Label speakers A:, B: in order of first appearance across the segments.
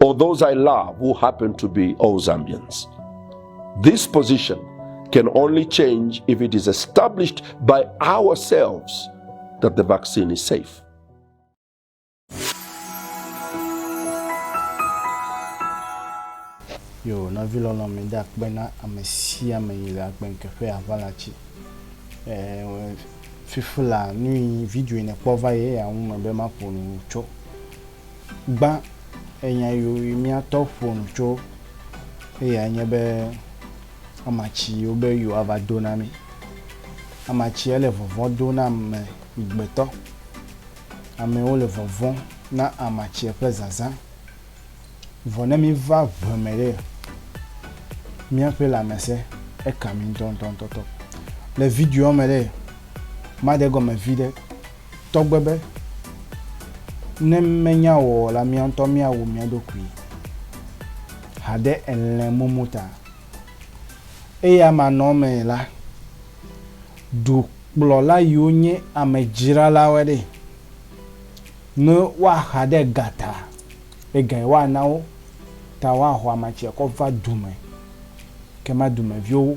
A: or those I love who happen to be all Zambians. This position can only change if it is established by ourselves that the vaccine is safe.
B: yo nɔvi lɔlɔ mi de akpe na ame sia ame yi le agbenkeƒe aʋala tsi fifi la nu yi video yi nekpɔ va ye ya ŋu me be maƒo nu tso gbã enya yo yi mía tɔ ƒo nu tso eya nye be ama tsi yo be yo ava do na mí. Ama tsi ele vɔvɔ̃ do na ame gbetɔ. Amewo le vɔvɔ̃ na ama tsi ƒe zazã. Vɔ ne mí va ŋe me ɖe, mía ƒe lãmese eka mí ŋutɔŋutɔŋutɔ. Le videoa me ɖe, ma ɖe gɔme vi ɖe. Tɔgbe be, ne menya o la mía ŋutɔ míawu mía ɖokui haɖe elẽ mumu ta. Eya manɔ me la, dukplɔla yiwo nye amedzralawoe ɖe. Ne woaxa ɖe ga ta, egae woana wo ta woaho amatsi akɔ va du me, ke ma dumeviwo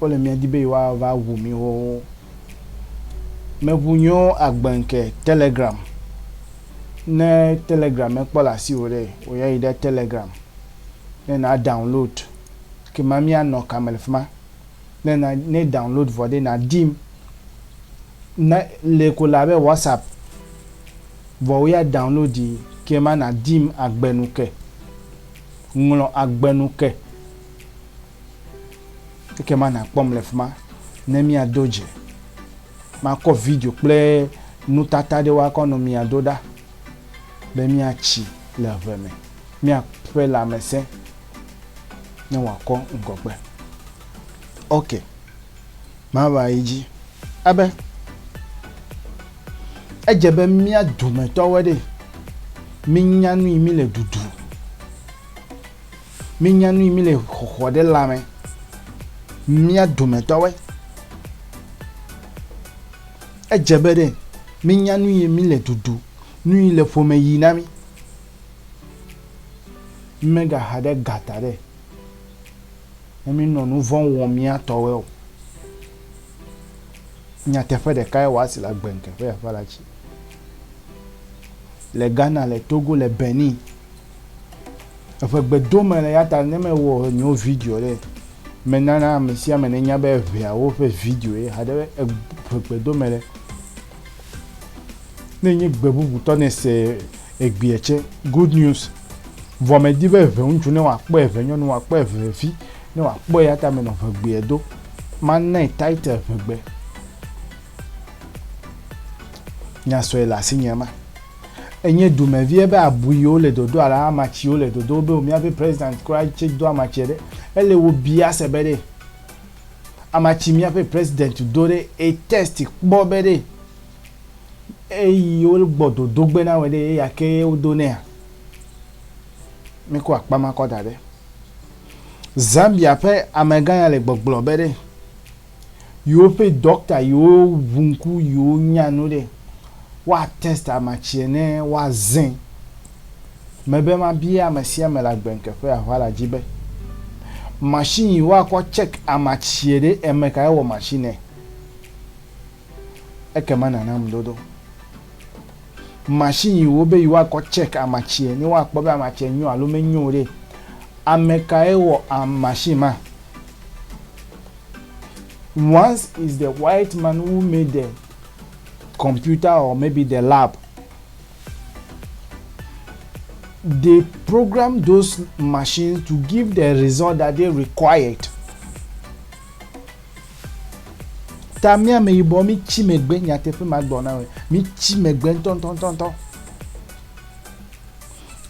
B: Wole mía di be yewoa va ŋu mí xoxo. Me ŋu nyo agbe ŋke telegram. Ne telegram me kpɔ le asi wò ɖe, wò ya yi ɖe telegram ne na download. Ke ma mía nɔ ka me le fima. Ne na, ne download vɔ ɖe na dim. Ne le ko la be WhatsApp vɔ wò ya download yi ke ma na dim agbe nu ke. Ŋlɔ agbe nu ke. Ekema nàkpɔm le fi ma ne míado dze. Makɔ video kple nutata aɖewo akɔ nɔ mia do ɖa be míatsi le ʋe me, míaƒe lãmesẽ ne wòakɔ ŋgɔgbe. Ok, mava yi dzi. Abe edze be mía dometɔwoe ɖe, mínya nu yi mí le ɖuɖu. Mínya nu yi mí le xɔxɔ ɖe lãme. Mía dometɔwe. Edze be ɖe mínya nu yi mí le dudu, nu yi le ƒome yi na mí. Mímegaxa ɖe gata ɖe ne mínɔ nu vɔ̃ wɔm mía tɔwe o. Nyateƒe ɖeka ye wòasi le agbe ŋkeke ƒe afã la dzi. Le Ghana, le Togo, le Benin, Eƒe gbe do me le ya ta ne me wɔ nyo video ɖe, me nana ame sia ame ne nya be eʋea wo ƒe video ye haɖe be eƒe gbe do me le. Ne nye gbe bubu tɔ ne se egbea tse, good news. Vɔ me di be eʋe ŋutsu ne wa kpɔ eʋe nyɔnu wa kpɔ eʋe vi ne wa kpɔ ya ta me nɔ eʋe gbea do. Ma nai title eʋe gbe. Nya sɔe le asi nya ma. Enye dumevi ebe abui yewo le dodo ala amatsi yewo le dodo wobe wo miabe president kura tse do amatsi ɖe. Ele wo bia se be ɖe amatsi miabe president do ɖe e test kpɔ be ɖe eyi wo gbɔ dodo gbe na wɔ ɖe eya ke ye wo do nɛa? Miko akpa ma kɔ da ɖe. Zambia ƒe amegã ya le gbɔgblɔ be ɖe. yiwo ƒe dɔkta yiwo ʋu ŋku yiwo nya nu ɖe woa test ama tsiɛ ne woa zẽ me be ma bia ame sia ame le agbe ŋkeƒe ahua la dzi be machine yiwo akɔ check ama tsiɛ ɖe eme kae wɔ machine ɛ. ekema nànam dodo. Machine yi wobe yewoakɔ check amatsie, ne woakpɔ be amatsie nyo alo menyo o ɖe, amekae wɔ machine ma? Once is the white man who made the computer or maybe the lab. They program those machines to give the result that they required. Ta mi ame yibɔ mi tsi megbe nyateƒe ma gbɔ na me. Mi tsi megbe ntɔntɔntɔntɔ.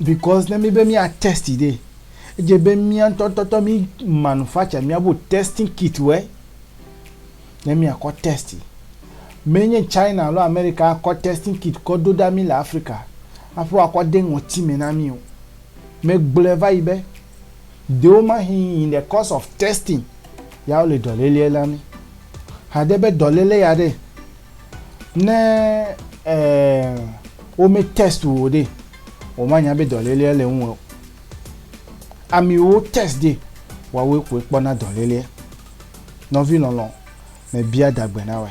B: Because ne mi be mi a test de, edze be mi ntɔntɔntɔ mi manufacture mi abo testing kit wɛ. Ne mi akɔ test. Me nye China alo America akɔ testing kit kɔ do da mi le Africa. Aƒe akɔ de ŋɔti me na mi o. Me gblɔe va yi be. Dewomahĩ in the course of testing ya wole dɔlélea la mi. Hade be dɔlélé ya ɖe ne eh, wome test wo ɖe womanya be dɔlélea le ŋuwɔ. Amiwo test ɖe wawoe koe kpɔna dɔlélea. Nɔvi lɔlɔ me bia dagbe na wɛ.